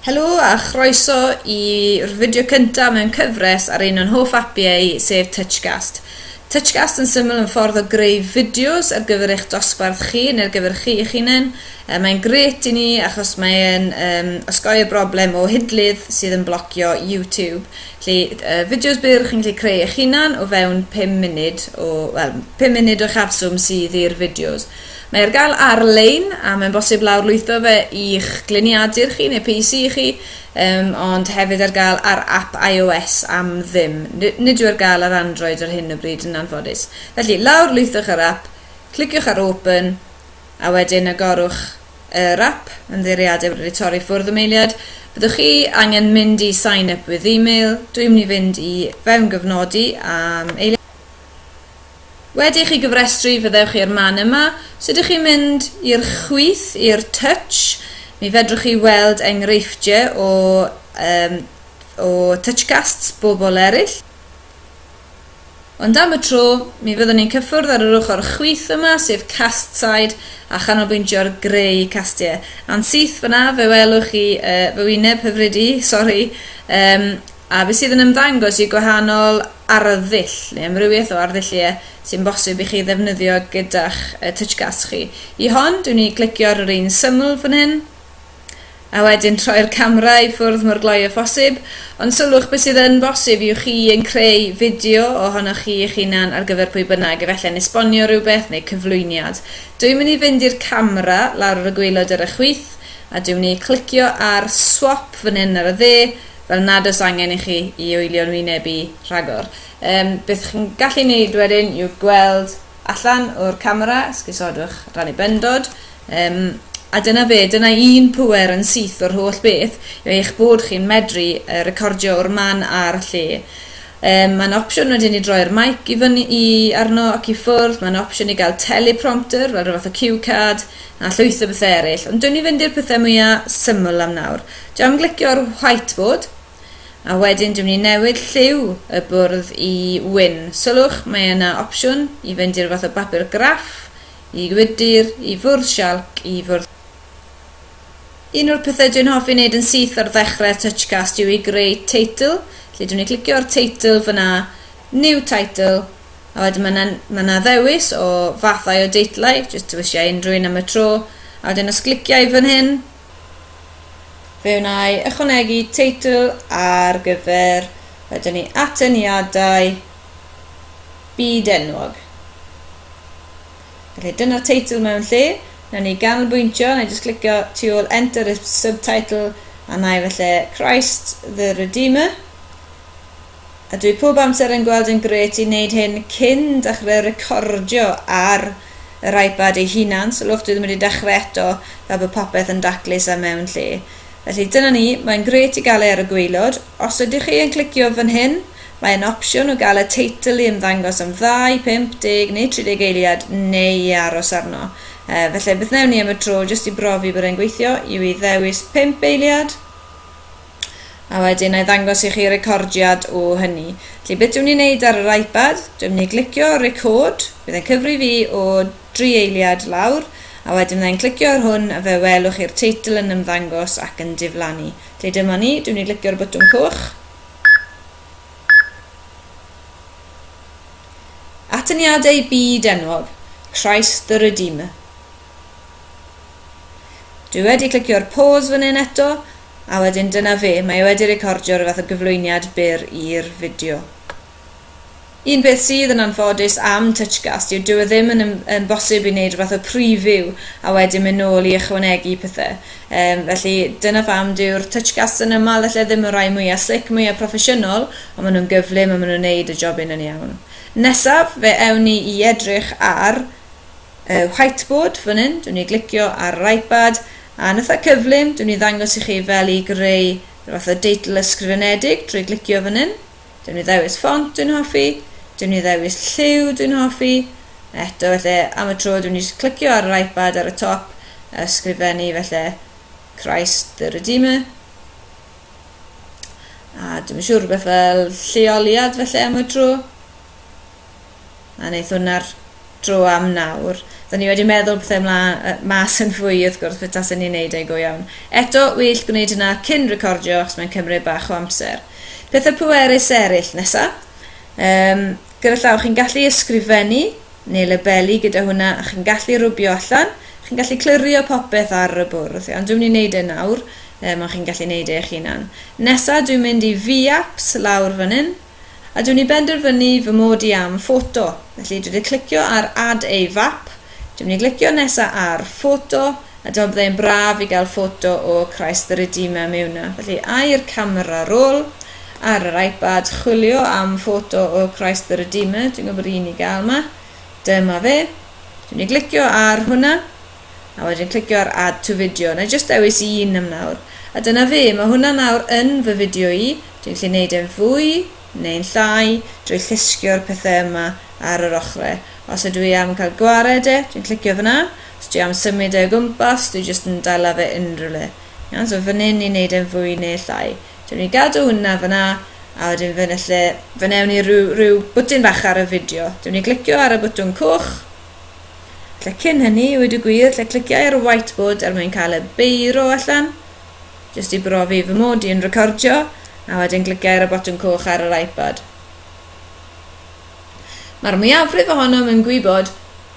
Helo a chroeso i'r fideo cyntaf mewn cyfres ar un o'n hoff apiau, sef Touchcast. Touchcast yn syml yn ffordd o greu fideos ar gyfer eich dosbarth chi neu ar gyfer chi eich hunain. E, mae'n gret i ni achos mae'n um, osgoi'r broblem o hidlydd sydd yn blocio YouTube. Lle uh, fideos byr chi'n gallu creu eich hunan o fewn 5 munud o, well, 5 munud o chafswm sydd i'r fideos. Mae ar gael ar-lein, a mae'n bosib lawrlwytho fe i'ch gliniadur chi neu PC chi, um, ond hefyd ar gael ar app iOS am ddim. Nid yw ar gael ar Android ar hyn o bryd yn anffodus. Felly, lawrlwythwch yr app, cliciwch ar Open, a wedyn agorwch yr app, ymddeiriadau wedi torri ffwrdd y meiliad. Byddwch chi angen mynd i sign up with email, dwi'n mynd i fynd i fewn gyfnodi am eiliad. Wedi i chi gyfrestru, fyddewch chi i'r man yma. Os ydych chi'n mynd i'r chwith, i'r touch, mi fedrwch chi weld enghreifftiau o, um, o touchcasts bobl eraill. Ond am y tro, mi fyddwn ni'n cyffwrdd ar yr ochr chwith yma, sef cast side, a chanolbwyntio'r greu castiau. A'n syth fyna, fe welwch chi uh, fy wyneb hyfryd i, sori, um, a beth sydd yn ymddangos yw gwahanol arddull neu amrywiaeth o arddulliau sy'n bosib i chi ddefnyddio gyda'ch TouchGas chi. I hon, dwi'n i glicio ar yr un syml fan hyn, a wedyn troi'r camera i ffwrdd mor gloi â phosib, ond sylwch beth sydd yn bosib yw chi yn creu fideo ohonoch chi eich hunan ar gyfer pwy bynnag, efallai'n esbonio rhywbeth neu cyflwyniad. Dwi'n mynd i fynd i'r camera lawr ar y gwaelod ar y chwith, a dwi'n mynd i glicio ar Swap fan hyn ar y dde, fel nad oes angen i chi i oelio'n wynebu rhagor. Um, beth chi'n gallu neud wedyn yw gweld allan o'r camera, sgusodwch rannu bendod, um, a dyna fe, dyna un pwer yn syth o'r holl beth yw eich bod chi'n medru uh, recordio o'r man a'r lle. Um, mae'n opsiwn wedyn i droi'r mic i fyny i arno ac i ffwrdd, mae'n opsiwn i gael teleprompter fel rhywbeth o cue card, A llwyth o bethau eraill. Ond dwn i fynd i'r pethau mwya syml am nawr. Dwi am glicio'r whiteboard. A wedyn dwi'n mynd i newid lliw y bwrdd i wyn. Sylwch, mae yna opsiwn i fynd i'r fath o bapur graff, i gwydr, i fwrdd sialc, i fwrdd... Un o'r pethau dwi'n hoffi wneud yn syth ar ddechrau Touchcast yw i greu teitl. Felly dwi'n mynd i glicio'r teitl fyna, New Title, A wedyn mae yna, mae yna ddewis o fathau o deitlau, jyst dewisio unrhyw un am y tro, a wedyn os glicia i fan hyn, fe wna i ychwanegu teitl ar gyfer, wedyn ni atyniadau byd enwog. Felly dyna'r teitl mewn lle, na ni ganolbwyntio, na i jyst clicio tu ôl enter y subtitle a na i felly Christ the Redeemer. A dwi pob amser yn gweld yn grêt i neud hyn cyn dachre recordio ar yr iPad ei hunan, sylwch dwi ddim wedi dachre eto fel bod popeth yn daclus a mewn lle. Felly dyna ni, mae'n grêt i gael e ar y gwaelod. Os ydych chi yn clicio fan hyn, mae yn opsiwn o gael y teitl i ymddangos am ddau, pump, deg neu tri deg eiliad neu i aros arno. Felly beth newn ni am y tro, jyst i brofi bod e'n gweithio, yw i ddewis pump eiliad. a wedyn na i ddangos i chi recordiad o hynny. Felly beth dwi'n ei wneud ar yr iPad, dwi'n mynd i glicio record, bydd e'n cyfri fi o dri eiliad lawr, a wedyn byddai'n clicio ar hwn a fe welwch chi'r teitl yn ymddangos ac yn diflannu. Felly dyma ni, dwi'n mynd i glicio'r botwm coch. Atyniadau byd enwog, Christ the Redeemer. Dwi wedi clicio'r pause fan hyn eto, A wedyn dyna fe, mae e wedi recordio rhyw fath o gyflwyniad byr i'r fideo. Un peth sydd yn anffodus am Touchcast yw dyw e ddim yn yn bosib i wneud rhywbeth o preview a wedyn mynd nôl i ychwanegu pethau. Um, felly dyna pham dyw'r Touchcasts yn ymal felly ddim y rai mwyaf slic, mwyaf proffesiynol, ond maen nhw'n gyflym a maen nhw'n neud y jobyn yn iawn. Nesaf, fe ewn ni i edrych ar y whiteboard fan hyn, dwi'n ei glicio ar yr iPad, a nitha cyflym, dwi'n ei ddangos i chi fel i greu rhyw fath o deitl ysgrifenedig drwy glicio fan hyn. Dwi'n ei ddewis ffont dwi'n hoffi, dwi'n ei ddewis lliw dwi'n hoffi, eto felly am y tro dwi'n ei clicio ar yr iPad ar y top, ysgrifennu felly Christ the Redeemer, a dwi'n siŵr rhywbeth fel lleoliad felly am y tro. A wneith hwnna'r dro am nawr. Da ni wedi meddwl beth ymla uh, mas yn fwy wrth gwrs beth tasen ni'n neud e go iawn. Eto, wyll gwneud hynna cyn recordio achos mae'n cymryd bach o amser. Pethau pwerus eraill nesa. Um, gyda llaw, chi'n gallu ysgrifennu neu labelu gyda hwnna a chi'n gallu rwbio allan. Chi'n gallu clirio popeth ar y bwrdd. Iawn, dwi'n mynd i wneud e nawr, um, ond chi'n gallu wneud e eich hunan. Nesa, dwi'n mynd i V-apps lawr fan hyn. a dw i'n benderfynu fy mod i am ffoto, felly dw i wedi clicio ar Add a Fap, dw i'n mynd i glicio nesa ar Ffoto, a dyma byddai'n braf i gael ffoto o Christ the Redeemer mewn yna. Felly, a i'r camera roll, ar yr iPad, chwilio am ffoto o Christ the Redeemer, dwi'n gwybod bod un i gael yma, dyma fe, dw i'n mynd i glicio ar hwnna, A wedyn clicio ar Add to Video. Na i jyst dewis un am nawr. A dyna fe, mae hwnna nawr yn fy fideo i. Dwi'n gallu neud e'n fwy neu'n llai drwy llusgio'r pethau yma ar yr ochrau. Os ydw i am cael gwared e, dwi'n clicio fanna. Os dwi am symud e o gwmpas, dwi jyst yn dala fe unrhyw le. Iawn, so fan hyn i neud e'n fwy neu llai. Dwi'n mynd i gadw hwnna fanna, a wedyn fe newn ni rhyw, rhyw bwtyn bach ar y fideo. Dwi'n mynd i glicio ar y bwtwn coch, Lle cyn hynny, i wedi gwir, lle cliciau ar y whiteboard er mwyn cael y beiro allan, jyst i brofi fy mod i'n recordio, a wedyn cliciau ar y botwm coch ar yr iPad. Mae'r mwyafrif ohonom yn gwybod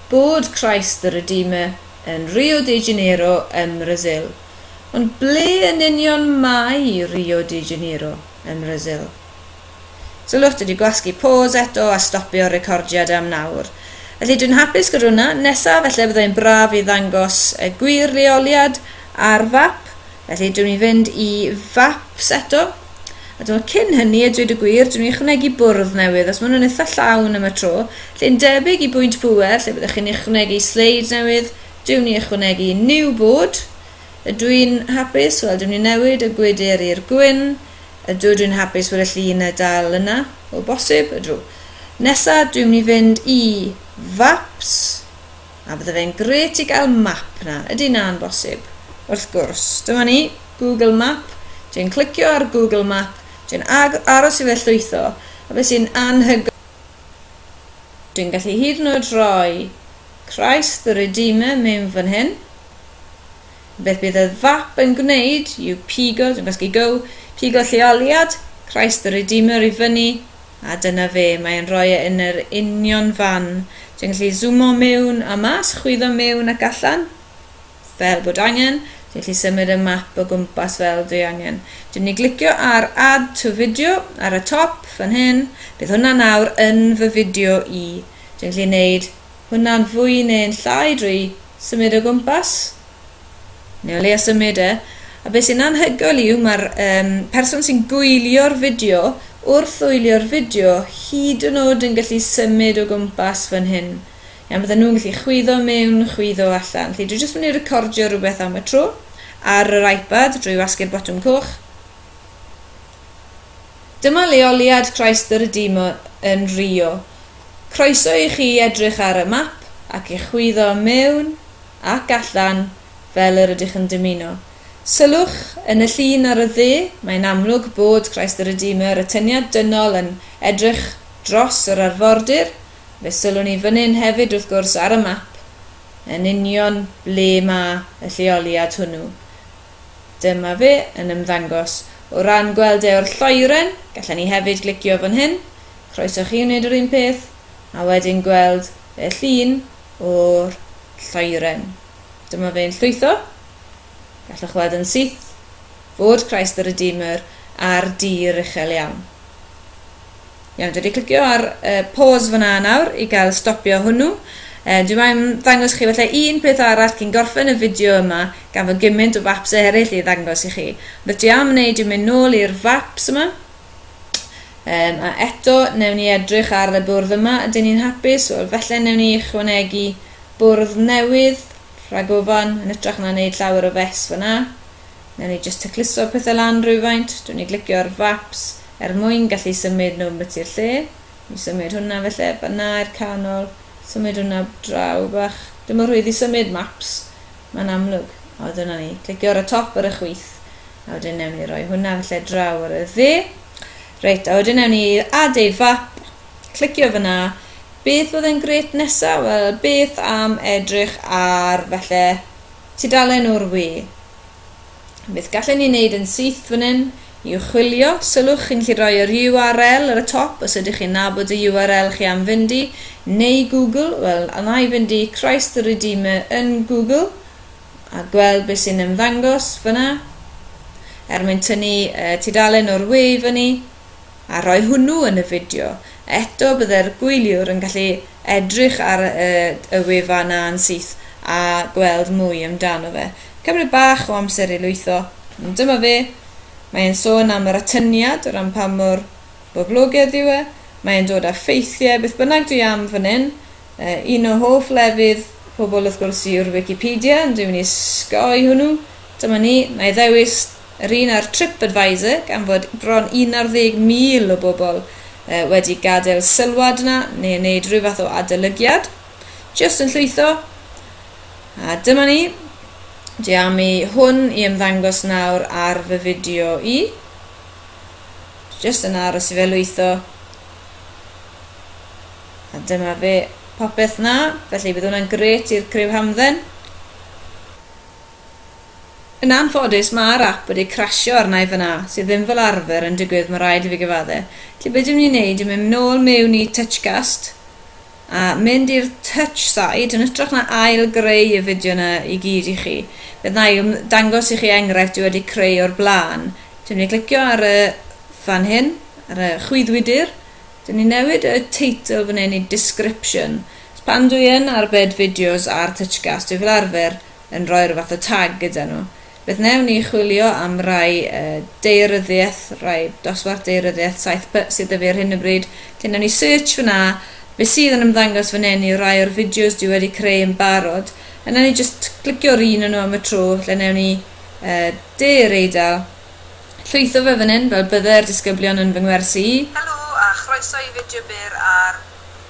bod Christ the Redeemer yn Rio de Janeiro ym Mrasil. Ond ble yn union mae Rio de Janeiro ym Mrasil? So lot wedi gwasgu pause eto a stopio'r recordiad am nawr. Felly dwi'n hapus gyda hwnna. Nesaf felly byddai'n braf i ddangos y gwir leoliad ar fap. Felly dwi'n i fynd i faps eto. A dwi'n cyn hynny, a dweud y gwir, dwi'n i ychwanegu bwrdd newydd, os maen nhw'n eitha llawn am y tro. Lle'n debyg i bwynt pŵer, lle byddwch chi'n ychwanegu sleid newydd, dwi'n i ychwanegu new board. Ydw i'n hapus? Wel, dwi'n i newid y gwydr i'r gwyn. Ydw, dwi'n hapus fod y llun y dal yna, o bosib, ydw. Nesa, dwi'n mynd i fynd i faps, a bydde fe'n gret i gael map na, ydy na'n bosib? Wrth gwrs, dyma ni, Google Map, dwi'n clicio ar Google Map, dwi'n aros i fe llwytho, a beth sy'n anhygoel, dwi'n gallu hyd yn oed rhoi Christ the Redeemer mewn fan hyn, Beth bydd y fap yn gwneud yw pigo, dwi'n gwasgu go, pigo lleoliad Christ the Redeemer i fyny, a dyna fe, mae e'n rhoi e yn yr union fan. Dwi'n gallu zoomo mewn a mas, chwyddo mewn ac allan, fel bod angen. Dwi'n gallu symud y map o gwmpas fel dwi angen. Dwi'n mynd i glicio ar Add to Video ar y top fan hyn. Bydd hwnna nawr yn fy fideo i. Dwi'n gallu gwneud hwnna'n fwy neu'n llai drwy symud o gwmpas? Neu o leia symud e. A be sy'n anhygoel yw mae'r um, person sy'n gwylio'r fideo wrth wylio'r fideo hyd yn oed yn gallu symud o gwmpas fan hyn. Iawn, bydden nhw'n gallu chwyddo mewn, chwyddo allan. Felly dwi jyst mynd i recordio rhywbeth am y tro ar yr iPad drwy wasgu'r botwm coch. Dyma leoliad Christ the Redeemer yn Rio. Croeso i chi edrych ar y map ac i chwyddo mewn ac allan fel yr ydych yn dymuno. Sylwch, yn y llun ar y dde, mae'n amlwg bod Christ the Redeemer, y tyniad dynol, yn edrych dros yr arfordir. Fe sylwn i fyn'yn hefyd, wrth gwrs, ar y map, yn union ble mae y lleoliad hwnnw. Dyma fe yn ymddangos. O ran gweld e o'r lloeren, gallen ni hefyd glicio fan hyn, Croeso chi wneud yr un peth a wedyn gweld y llun o'r lloeren. Dyma fe'n llwytho. Gallwch weld yn syth fod Christ the Redeemer ar dir uchel iawn. Iawn, dwi wedi clicio ar uh, pause fyna nawr i gael stopio hwnnw. Uh, dwi mae'n ddangos chi felly un peth arall cyn gorffen y fideo yma, gan fod gymaint o faps eraill i ddangos i chi. Rydw i am wneud yw mynd nôl i'r faps yma, Um, a eto, newn ni edrych ar y bwrdd yma. Ydyn ni'n hapus? Wel, felly newn ni ychwanegu bwrdd newydd, rhagofan, yn ytrach na wneud llawer o fes fyna. Newn ni jyst tacluso pethau lan rhywfaint. Dwi'n ni glicio ar faps er mwyn gallu symud nhw beth i'r lle. Mi symud hwnna felly, fanna i'r canol. Symud hwnna draw bach. Dim o rhwydd i symud maps. Mae'n amlwg. O, dyna ni. Clicio ar y top ar y chwith. A wedyn newn ni roi hwnna felly draw ar y dde. Reit, a wedyn newn ni add a fap. Clicio fyna. Beth fydd yn gret nesa? Wel, beth am edrych ar felly tudalen o'r we? Beth gallen ni wneud yn syth fan hyn yw chwilio, sylwch, chi'n gallu rhoi yr URL ar y top os ydych chi'n nabod y URL chi am fynd i, neu Google, wel, a wna i fynd i Christ the Redeemer yn Google, a gweld beth sy'n ymddangos fyna, er mwyn tynnu uh, tudalen o'r we i fyny. a rhoi hwnnw yn y fideo, eto byddai'r gwyliwr yn gallu edrych ar y wefan 'na'n syth a gweld mwy amdano fe. Cymryd bach o amser i lwytho, ond dyma fe. Mae e'n sôn am yr atyniad o ran pa mor boblogedd yw e, mae e'n dod â ffeithiau, beth bynnag dwi am fan hyn. Un o hoff lefydd pobl wrth gwrs yw'r Wicipedia, ond dwi'n mynd i osgoi hwnnw. Dyma ni, 'na i ddewis Yr un ar TripAdvisor gan fod bron 11,000 o bobl wedi gadael sylwad yna neu wneud rhyw fath o adolygiad. Jyst yn llwytho. A dyma ni. Dwi am i hwn i ymddangos nawr ar fy fideo i. Jyst yn aros i fe lwytho. A dyma fe, popeth na, felly bydd hwnna'n gret i'r criw hamdden. Yn anffodus mae'r app wedi crasio arna i fanna, sydd ddim fel arfer yn digwydd mae rhaid i fi gyfadde. Felly be dwi'n mynd i wneud yw mynd nôl mewn i Touchcast a mynd i'r Touch side yn hytrach na ail greu y fideo yna i gyd i chi. Fe wna i dangos i chi enghraifft dwi wedi creu o'r blaen. Dwi'n mynd i glicio ar y fan hyn, ar y chwyddwydr. Dwi'n mynd i newid y title fan hyn i Description. Pan dwi yn arbed fideos ar Touchcast dwi fel arfer yn rhoi rhyw fath o tag gyda nhw. Beth wnewn ni, chwilio am rai daearyddiaeth, rai dosbarth daearyddiaeth 7P sydd 'da fi ar hyn o bryd, lle wnewn ni search fan'na, be sydd yn ymddangos fan hyn yw rai o'r fideos dwi wedi creu yn barod, a wnewn ni jyst clicio ar un o nhw am y tro, lle wnewn ni De yr Eidal, llwytho fe fan hyn fel bydde'r disgyblion yn fy ngwersi i. Helo a chroeso i fideo byr ar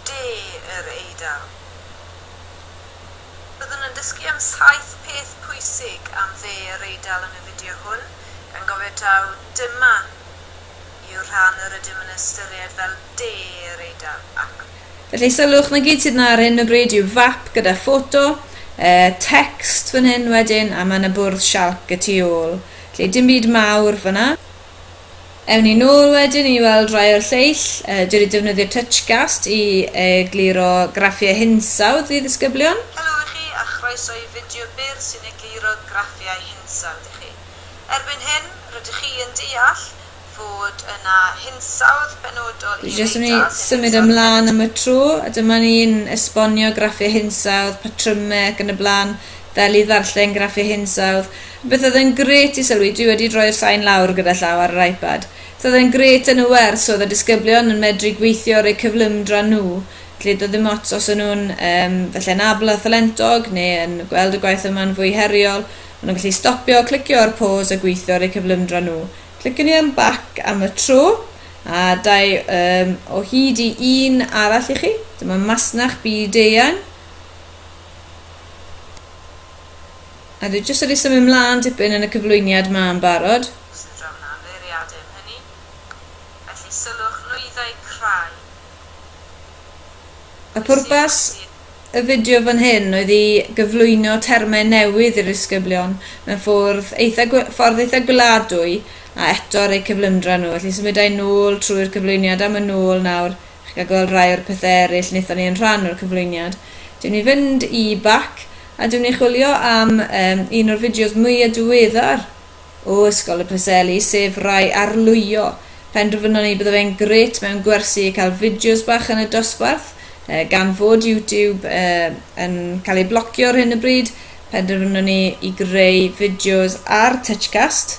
De yr Eidal. Byddwn yn dysgu am saith peth pwysig am Dde yr Eidal yn y fideo hwn, gan gofio taw dyma yw'r rhan yr ydym yn ystyried fel De yr Eidal, ac. Felly sylwch, 'na gyd sydd 'na ar hyn o bryd yw fap gyda ffoto, tecst fan hyn wedyn, a ma' 'na bwrdd sialc y tu ôl. Felly dim byd mawr fan'na. Ewn ni nôl wedyn i weld rai o'r lleill. Dwi wedi defnyddio Touchcast i egluro graffiau hinsawdd i ddisgyblion. Helo i chi a chroeso i fideo byr sy'n egluro graffiau hinsawdd i chi. Erbyn hyn, rydych chi yn deall fod yna hinsawdd benodol i Dwi jyst yn mynd i symud ymlaen am y tro, a dyma ni'n esbonio graffiau hinsawdd, patrymau ac yn y blaen, fel i ddarllen graffiau hinsawdd. Bydd oedd yn grêt i sylwi dwi wedi droi'r sain lawr gyda llaw ar yr iPad. Bydd oedd yn grêt yn y wers oedd y disgyblion yn medru gweithio ar eu cyflymdra nhw, lle doedd dim ots os o'n nhw'n yym falle'n abl a thalentog neu yn gweld y gwaith yma'n fwy heriol, o'n nhw'n gallu stopio, clicio ar pause a gweithio ar eu cyflymdra nhw. Cliciwn ni ar back am y tro, a dau yym o hyd i un arall i chi. Dyma masnach byd-eang. A dwi jyst wedi symud mlaen dipyn yn y cyflwyniad ma yn barod. Os fedra fy na feiriadu am hynny. Felly sylwch nwyddau crai. A pwrpas y fideo fan hyn oedd i gyflwyno termau newydd i'r disgyblion mewn ffwrdd eitha ffordd eitha gweladwy a eto ar eu cyflymdra nhw. Felly symudai nôl trwy'r cyflwyniad a ma nôl nawr. Chi'n cael gweld rhai o'r pethau eraill wnaethon ni yn rhan o'r cyflwyniad. Dw i'n mynd i fynd i bac a dw i'n mynd i chwilio am um, un o'r fideos mwyaf diweddar o Ysgol y Preseli, sef Rai Arlwyo. Penderfynon ni bydde fe'n gret mewn gwersi cael fideos bach yn y dosbarth, uh, gan fod YouTube uh, yn cael ei blocio ar hyn y bryd, penderfynon ni i greu fideos ar Touchcast,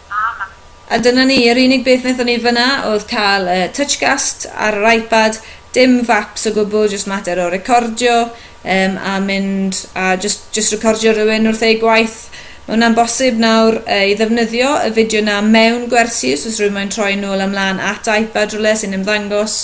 Amen. A dyna ni, yr unig beth wnaethon ni fan'na oedd cael y Touchcast ar yr iPad, dim faps o gwbl, jyst mater o recordio yym a mynd a jyst jyst recordio rhywun wrth eu gwaith. Mae hwnna'n bosib nawr yy i ddefnyddio y fideo 'na mewn gwersi os oes rhywun moyn troi nôl a mlaen at iPad rywle sy'n ymddangos.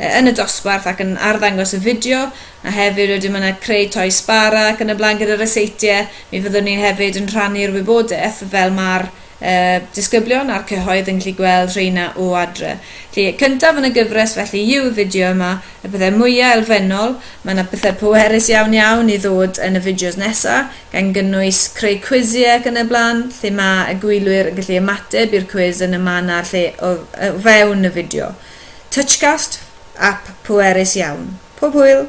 yn y dosbarth ac yn arddangos y fideo, a hefyd wedyn ma' 'na creu toi sbara ac yn y blaen gyda'r ryseitiau, mi fyddwn ni hefyd yn rhannu'r wybodaeth fel ma'r uh, disgyblion a'r cyhoedd yn gallu gweld rheina o adre. Felly, cyntaf yn y gyfres felly yw y fideo yma, y pethau mwyaf elfennol, mae yna pethau pwerus iawn iawn i ddod yn y fideos nesa, gan gynnwys creu cwisiau ac yn y blaen, lle mae y gwylwyr yn gallu ymateb i'r cwis yn y man a'r lle o, o fewn y fideo. Touchcast, ap pwerus iawn. Pob hwyl!